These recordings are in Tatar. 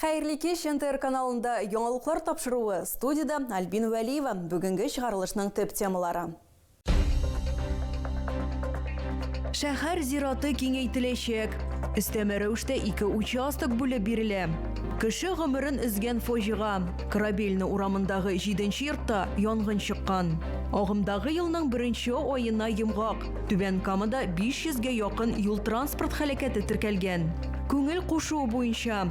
Хәерле кич, НТР каналында яңалыклар тапшыруы, студиядә Альбина Вәлиева, бүгенге чыгарылышның төп темалары. Шәһәр зираты киңәйтеләчәк. Өстәмә рәвештә ике участок бүлеп бирелә. Кеше гомерен өзгән фаҗига, Корабельный урамындагы җиденче йортта янгын чыккан. Агымдагы елның беренче аена йомгак. Түбән Камада 500 гә якын юл-транспорт һәлакәте теркәлгән. Күңел кушуы буенча.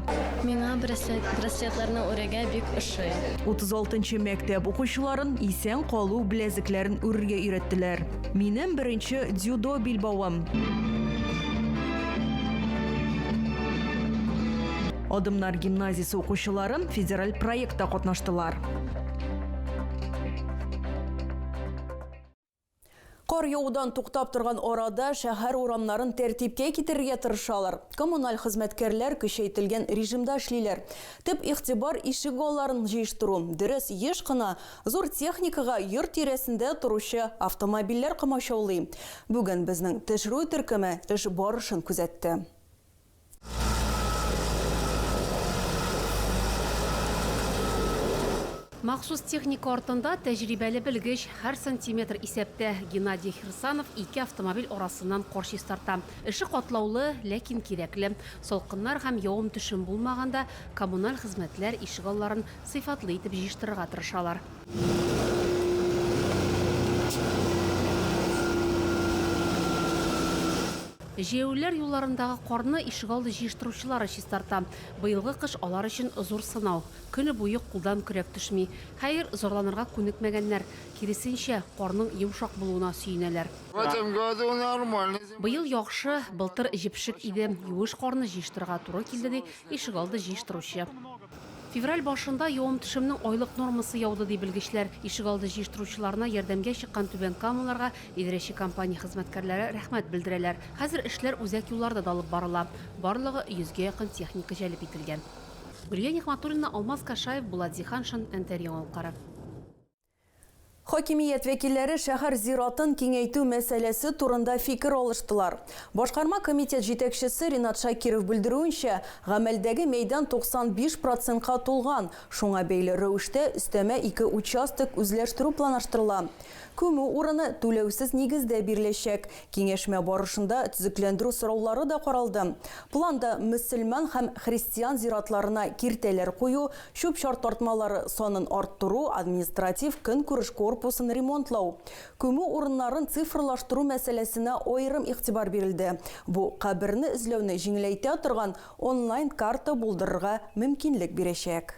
Миңа браслет, браслетларны үрергә бик ошый. 36 нчы мәктәп укучыларын исән калу беләзекләрен үрергә өйрәттеләр. Минем беренче дзюдо билбавым. Адымнар гимназиясе укучылары федераль проектта катнаштылар. Кар явудан туктап торган арада шәһәр урамнарын тәртипкә китерергә тырышалар. Коммуналь хезмәткәрләр көчәйтелгән режимда эшлиләр. Төп игътибар ишегалларын җыештыру. Дөрес, еш кына зур техникага йорт тирәсендә торучы автомобильләр комачаулый. Бүген безнең төшерү төркеме эш барышын күзәтте. Махсус техника артында тәҗрибәле белгеч, һәр сантиметр исәптә. Геннадий Херсанов ике автомобиль арасыннан кар чистарта. Эше катлаулы, ләкин кирәкле. Салкыннар һәм явым-төшем булмаганда коммуналь хезмәтләр ишегалларын сыйфатлы итеп җыештырырга тырышалар. Җәяүлеләр юлларындагы карны ишегалды җыештыручылары чистарта. Быелгы кыш алар өчен зур сынау. Көне буе кулдан көрәк төшми. Хәер, зарланырга күнекмәгәннәр, киресенчә, карның йомшак булуына сөенәләр. В этом году нормальный зима. Быел яхшы, былтыр җепшек иде, юеш карны җыештырырга туры килде, ди ишегалды җыештыручы. Февраль башында явым-төшемнең айлык нормасы яуды, ди белгечләр. Ишегалды җыештыручыларына ярдәмгә чыккан Түбән Камаларга идарәче компания хезмәткәрләре рәхмәт белдерәләр. Хәзер эшләр үзәк юлларда да алып барыла. Барлыгы йөзгә якын техника җәлеп ителгән. Гөлия Нигъмәтуллина, Алмаз Кашаев, Булат Зиһаншин, Нтр Яңалыклары. Хакимият вәкилләре шәһәр зиратын киңәйтү мәсьәләсе турында фикер алыштылар. Башкарма комитет җитәкчесе Ринат Шакиров белдерүенчә, гамәлдәге мәйдан 95 процентка тулган, шуңа бәйле рәвештә өстәмә ике участок үзләштерү планлаштырыла. Күмү урыны түләүсез нигездә биреләчәк, Киңәшмә барышында төзекләндерү сораулары да каралды. Планда мөселман һәм христиан зиратларына киртәләр кую, чүп-чар тартмалары санын арттыру, административ-көнкүреш корпусын ремонтлау, күмү урыннарын цифрлаштыру мәсьәләсенә аерым игътибар бирелде, бу каберне эзләүне җиңеләйтә торган онлайн-карта булдырырга мөмкинлек бирәчәк.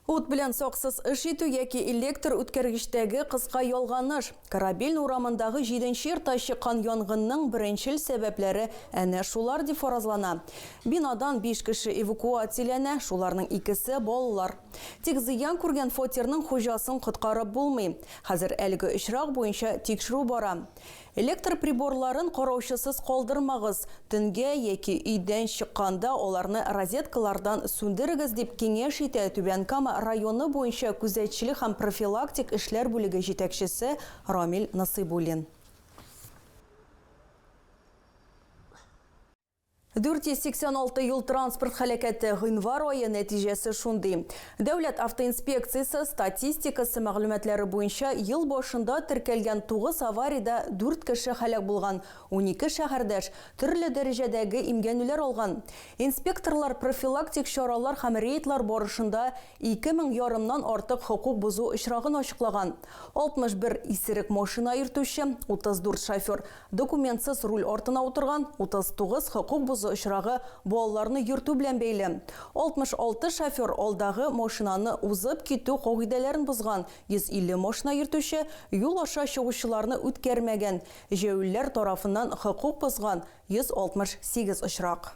Ут белән саксыз эш итү яки электр үткәргечтәге кыска ялганыш. Корабельный урамындагы җиденче йортта чыккан янгынның беренчел сәбәпләре әнә шулар дип фаразлана. Бинадан биш кеше эвакуацияләнә, шуларның икесе, балалар. Тик зыян күргән фатирның хуҗасын коткарып булмый. Хәзер әлеге очрак буенча тикшерү бара. Электр приборларын караучысыз калдырмагыз, төнгә яки өйдән чыкканда аларны розеткалардан сүндерегез, дип киңәш итә Түбән Кама районы буенча күзәтчелек һәм профилактик эшләр бүлеге җитәкчесе Рамил Насыйбуллин. 486 юл-транспорт һәлакәте, гыйнвар ае нәтиҗәсе шундый. Дәүләт автоинспекциясе статистикасы мәгълүматлары буенча, ел башында теркәлгән 9 авариядә 4 кеше һәлак булган, унике шәһәрдәш төрле дәрәҗәдәге имгәнүләр алган. Инспекторлар профилактик чаралар һәм рейдлар барышында ике мең ярымнан артык хокук бозу очрагын ачыклаган. 61 исерек машина йөртүче, 34 шофер Документсыз руль артына утырган 39 хокук бозу очрагы балаларны йөртү белән бәйле. 66 шофер алдагы машинаны узып китү кагыйдәләрен бозган, 150 машина йөртүче юл аша чыгучыларны үткәрмәгән, җәяүлеләр тарафыннан хокук бозган 168 очрак.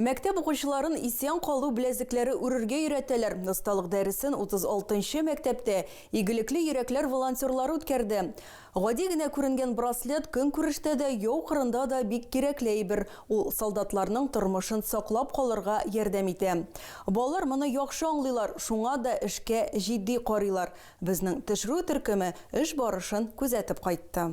Мәктәп укучыларын исән калу беләзекләре үрергә өйрәтәләр. Осталык дәресен 36 нчы мәктәптә Игелекле йөрәкләр волонтерлары үткәрде. Гади генә күренгән браслет көнкүрештә дә, яу кырында да бик кирәкле әйбер. Ул солдатларның тормышын саклап калырга ярдәм итә. Балалар моны яхшы аңлыйлар, шуңа да эшкә җитди карыйлар. Безнең төшерү төркеме эш барышын күзәтеп кайтты.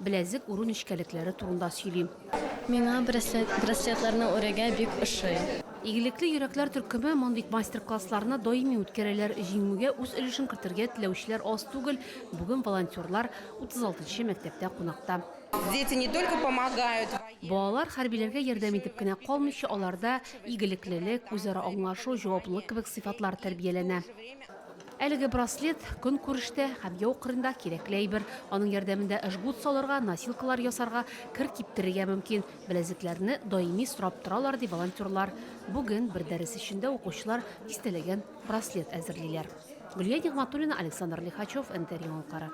Беләзек үрү нечкәлекләре турында сөйлим. Миңа браслет, браслетларны үрергә бик ошый. Игелекле йөрәкләр төркеме мондый мастер-классларны даими үткәрәләр. Җиңүгә үз өлешен кертергә теләүчеләр аз түгел. Бүген волонтерлар 36 нчы мәктәптә кунакта. Дети не только помогают. Балалар хәрбиләргә ярдәм итеп кенә калмыйча, аларда игелеклелек, үзара аңлашу, җаваплылык кебек сыйфатлар тәрбияләнә. Әлеге браслет, көнкүрештә һәм яу кырында кирәкле әйбер. Аның ярдәмендә жгут салырга, носилкалар ясарга, кер киптерергә мөмкин. Беләзекләрне даими сорап торалар, ди волонтерлар. Бүген бер дәрес эчендә укучылар дистәләгән браслет әзерлиләр. Гөлия Нигъмәтуллина, Александр Лихачев, НТР Яңалыклары.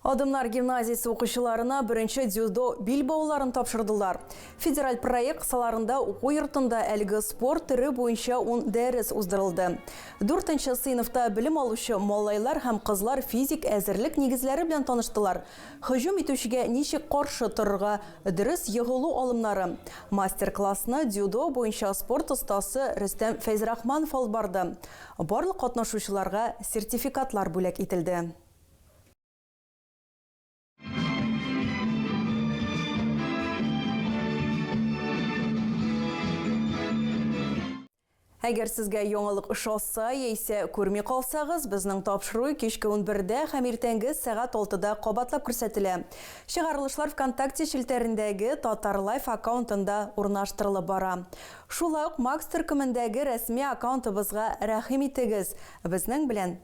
Адымнар гимназиясе укучыларына беренче дзюдо бил бауларын тапшырдылар. Федераль проект кысаларында уку йортында әлеге спорт төре буенча ун дәрес уздырылды. Дүртенче сыйныфта белем алучы малайлар һәм кызлар физик әзерлек нигезләре белән таныштылар, һөҗүм итүчегә ничек каршы торырга, дөрес егылу алымнары. Мастер-классны дзюдо буенча спорт остасы Рөстәм Фәйзрахманов алып барды. Барлык катнашучыларга сертификатлар бүләк ителде. Әгәр сезгә яңалык ошаса, яисә күрми калсагыз, безнең тапшыру кичке 11-дә һәм иртәнге сәгать 6-да кабатлап күрсәтелә. Чыгарылышлар ВКонтакте челтәрендәге Татар Лайф аккаунтында урнаштырылып бара. Шулай ук Макс төркемендәге рәсми аккаунтыбызга рәхим итегез. Безнең белән